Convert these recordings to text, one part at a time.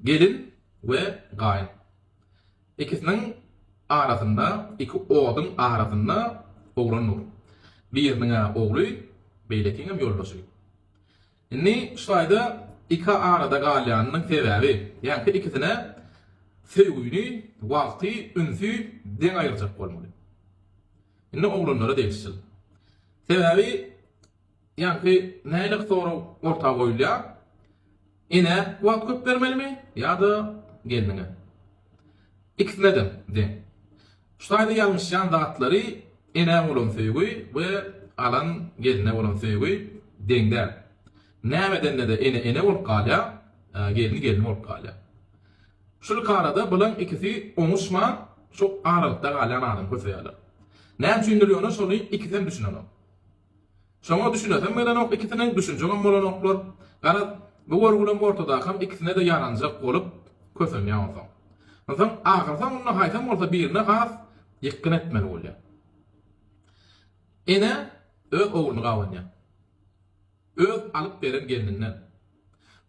Gelin we gaýyn. Ikisiniň arasynda, iki oduň arasynda oglan dur. Biriniň-ä ogly, beýlekiňem ýoldaşy. Indi şulaýda iki arada galýanynyň sebäbi, ýaňky ikisine söýgüni, wagty, ünsi deň aýyrjak bolmaly. Indi oglanlara degişjil. Sebäbi. Ýagny nähili sorag orta goýulýar, Enä wagt köp bermelimi ýa-da gelniňe? Ikisine-de deň. Şu taýda ýalňyşýan zatlary enä bolan söýgi we alan gelne bolan söýgi deň däl. Näme edende-de ene ene bolup galýar, gelni gelni bolup galýar. Şul iki arada bulaň ikisi oňuşman şu aralykda galýan adam köseýärler. Näme üçindir ýöne şony ikisem düşünenok. Şoňa düşünesem gelenok ikisiniň, düşünjegem bolanoklar. Garaz, bu görgülem ortadakam ikisine-de ýaranjak bolup kösenýär onsoň. Onsoň ahyrsoňunda haýsam bolsa birine has ýykgyn etmeli bolýar. Ene öz ogluny gabanýar. Öz alyp beren gelninden.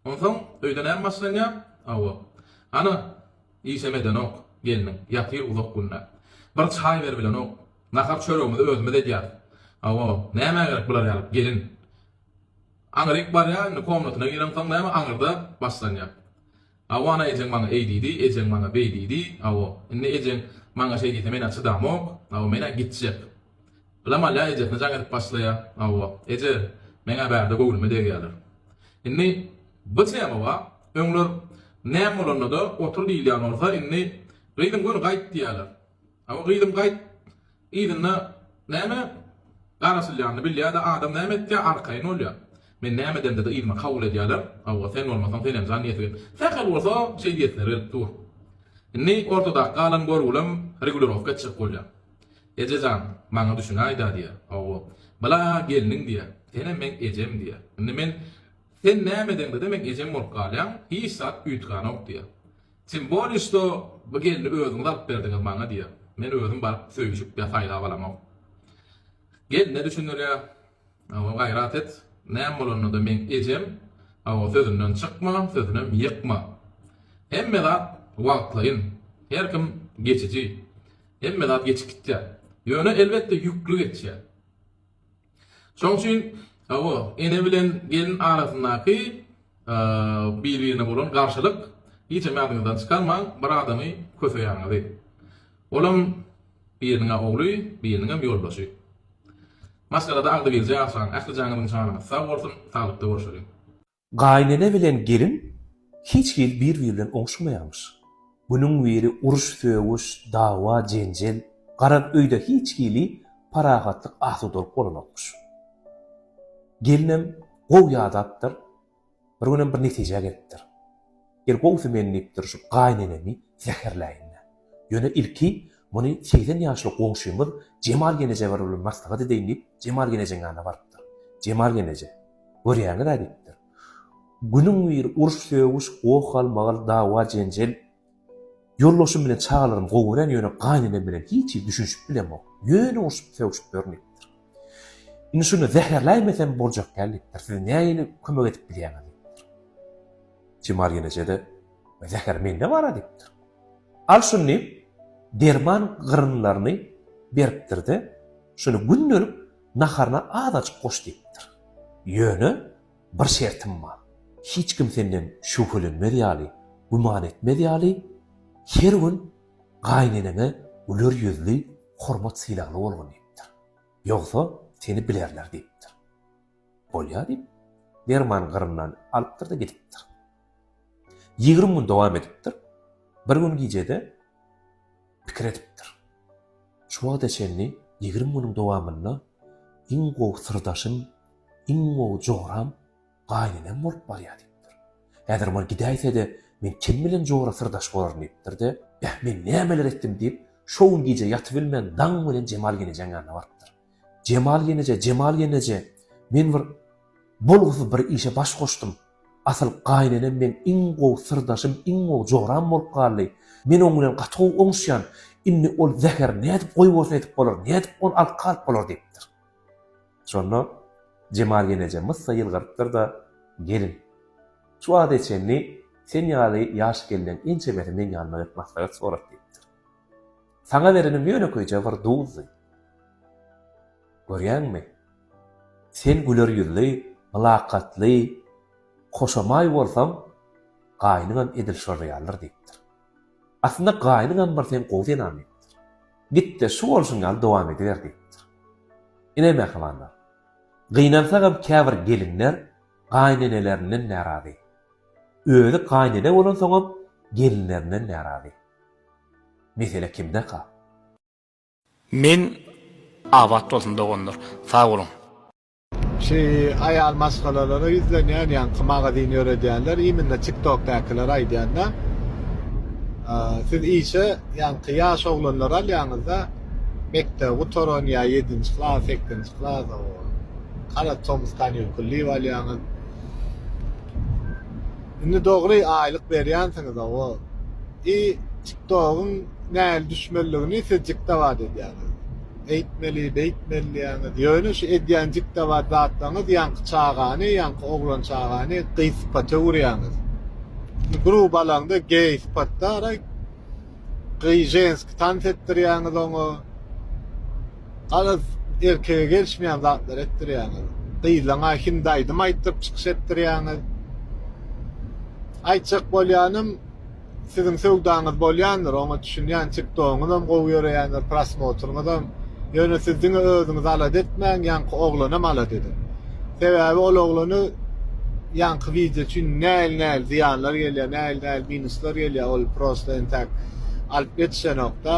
Onsoň öýde näme başlanýar? Hawa. Ana, işem edenok, gelniň, ýatyr uzak günde. Bir çaý berbilenok. Nahar-çöregimizi özümiz edýäris. Hawa, nämä gerek bular ýaly gelin? Aňryk barýar, indi komnatyna gireňsoň näme aňyrda başlanýar. Awana ejeň maňa eý diýdi, ejeň maňa beý diýdi, awo, indi ejeň maňa şeý diýse men-ä çydamok, awo, men-ä gitjek. Bilamal-ä ejesine jaň edip başlaýa, awo, eje, meň-ä bärde göwnüme degýäler. Indi bu tema-a öňler näme bolanda-da otur diýilýän bolsa, indi gyzyň göni gaýt diýýäler. Hawa gyzym gaýt. Yzynda näme garaşylýanyny bilýä-de adam näme etýä arkaýyn bolýa. Men näme edemde-de yzyma kabul edýäler. Hawa sen bolmasaň senem jan diýesi gelip. Sähel bolsa şeý diýesiler gelip dur. Indi ortadaky galan görgülem regulirowka etjek bolýa. Eje jan, maňa düşünäý-dä diýä. Hawa. Bala gelniň diýä. Senem meň ejem diýä. Indi men Sen näme edeňde-de meň ejem bolup galýaň, hiç zat üýtgänok diýä. Tym boli što bu gelni özüňiz alyp berdiňiz maňa diýýär. Men özüm baryp söýüşip ýa saýlap alamok. Gelne düşündirýär. Hawa gaýrat et. Näme bolanda-da meň ejem. Hawa sözünden çykma, sözünem ýykma. Hemme zat wagtlaýyn. Her kim geçiji. Hemme zat geçip gitýär. Ýöne elbetde ýükli geçýär. Şoň üçin hawa, ene bilen gelin arasyndaky bir-birine bolan garşylyk hiç hem ýadyňyzdan çykarmaň, bir adamy köseýäňizi. Olam biriniň-ä ogly, biriniňem ýoldaşy. Maşgalada agzybirje ýaşaň, ähli janyňyzyň-şanyňyz sag bolsun, saglykda görşeliň. Gaýynene bilen gelin hiç hili bir-biri bilen oňşamaýarmyş. Günüň-biri uruş-sögüş, dawa-jenjel, garaz öýde hiç hili parahatlyk, asudalyk bolanokmyş. Gelinem gowy ýadapdyr, bir günem bir netijä gelipdir. Gel gowsy men diýipdir şu gaýynenemi zäherläýin-dä. Ýöne ilki muny segsen ýaşly goňşymyz Jemal genejewer bilen maslahat edeýin diýip Jemal genejeň ýanyna barypdyr. Jemal geneje, Görýäňiz-ä diýipdir. Günüň biri uruş-sögüş, goh-galmagal, dawa-jenjel. Ýoldaşym bilen çagalarym gowy gören, ýöne gaýynenem bilen hiç hili düşünişip bilemok. Ýöne urşup-sögüşip ýörün diýipdir. Indi şuny zäherläýmesem boljak däl diýipdir. Siz nähili kömek edip bilýäňiz diýipdir. Jemal ýeneje-de, Zäher mende bar-a diýipdir. Al şuny diýip, derman gyrynlaryny beripdir-de, Şuny gündelik naharyna azajyk goş diýipdir. Ýöne bir şertim bar. Hiç kim senden şübhelenmez ýaly, güman etmez ýaly, her gün gaýyneneňe güler ýüzli, hormat-sylagly bolgun diýipdir. Ýogsa, seni bilerler diýipdir. Bolýar diýip, dermany gyryndan alypdyr-da gidipdir. Ýigrimi gün dowam edipdir. Bir gün gijede pikir edipdir. Şu wagta çenli ýigrimi günüň dowamynda iň gowy syrdaşym, iň gowy joram gaýynenem bolup barýar diýipdir. Häzir ol gidäýse-de, men kim bilen jora syrdaş bolaryn diýipdir-de, Beh, men nämeler etdim diýip, şo gün gije ýatybilmän daň bilen Jemal genejeň ýanyna barypdyr. Jemal ýeneje, Jemal ýeneje, men bir bolgusyz bir işe baş goşdum. Asyl gaýynenem meň iň gowy syrdaşym, iň gowy joram bolup galdy. Men oň bilen gaty gowy oňuşýan. Indi ol zäheri nädip goýbosun edip bolar, nädip ony alyp galyp bolar diýipdir. Şonda Jemal ýeneje myssa ýylgyrypdyr-da, Gelin, şu wagta çenli sen ýaly ýaş gelneň ençemesi meň ýanyma gelip maslahat sorap diýipdir. Saňa berenim ýönekeýje bir duzdy. Görýäňmi? Sen güler ýüzli, mylakatly, hoşamaý bolsaň, gaýnyňam edil şolar ýalydyr diýipdir. Aslynda gaýnyňam bir sen gowy zenan diýipdir. Git-de şu bolşuň ýaly dowam ediber diýipdir. Ine mähribanlar. Gynansagam käbir gelinler gaýynenelerinden närazy. Özi gaýynene bolansoňam gelinlerinden närazy. Mesele kimdeka? Men Abat bolsun doganlar. Sag boluň. Şu aýal maşgalalara ýüzlenýän ýaňky magazin ýöredýänler iminle tiktokdakylar aýdýanda siz işe ýaňky ýaş oglanlary alýaňyzda mekdebi gutaran ýa ýedinji klas sekizji klas o kara tomus kanýukullyby alýaňyz Indi dogry aýlyk berýänsiňiz hawa. I tiktogyň näl düşmelidigini siz jikdabat edýäňiz. Eýtmeli, beýtmeli diýýäňiz. Ýöne şu edýän jikdabat zatlaryňyz ýaňky çagany, ýaňky oglan çagany gyz sypata öwürýäňiz. Indi gruba alaňda geý sypatdara gyz ženski tans etdirýäňiz oňa. Garaz erkege gelişmeýän zatlar etdirýäňiz. Gyzlaňa hindi aýdym aýtdyryp çykyş etdirýäňiz. Aýtjak bolýanym siziň söwdaňyz bolýandyr oňa düşünýän tiktogyňyzam gowy ýöreýändir prosmotryňyzam ýöne siz diňe özüňizi alada etmäň ýaňky oglanam alada ediň sebäbi ol oglany ýaňky wideo üçin näl näl zyýanlar gelýär näl näl minuslar gelýär ol prosta entäk alyp ýetişenokda.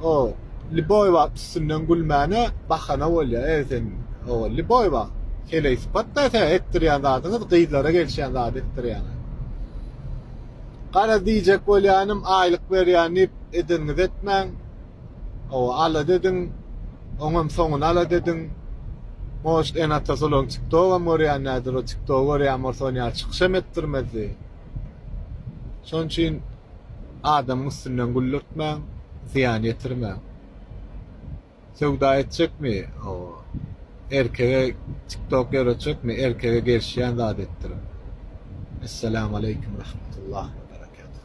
O, lýuboý wagt üstünden gülmäne bahana bolýar, e, seň, o, lýuboý wagt. Heleý sypat-da tä etdirýän zadyňyz, gyzlara gelişýän zady etdirýäňiz. Garaz, diýjek bolýanym, aýlyk berýän diýip, edeniňizi etmäň. O, alat ediň, oňam soňuny alat ediň. Может, ene-atasy olaryň TikTok-am görýänlerdir, o TikTok-y görýän bolsa, ony ýaly çykyşam etdirmezdi. Şonuň üçin adamyň üstünden güldürtmäň, zyýan ýetirmäň. Söwda etjekmi, erkege tiktok ýöretjekmi, erkege gelşýän zat etdiriň. Essalamu aleýkum rahmetullah we berekatuh.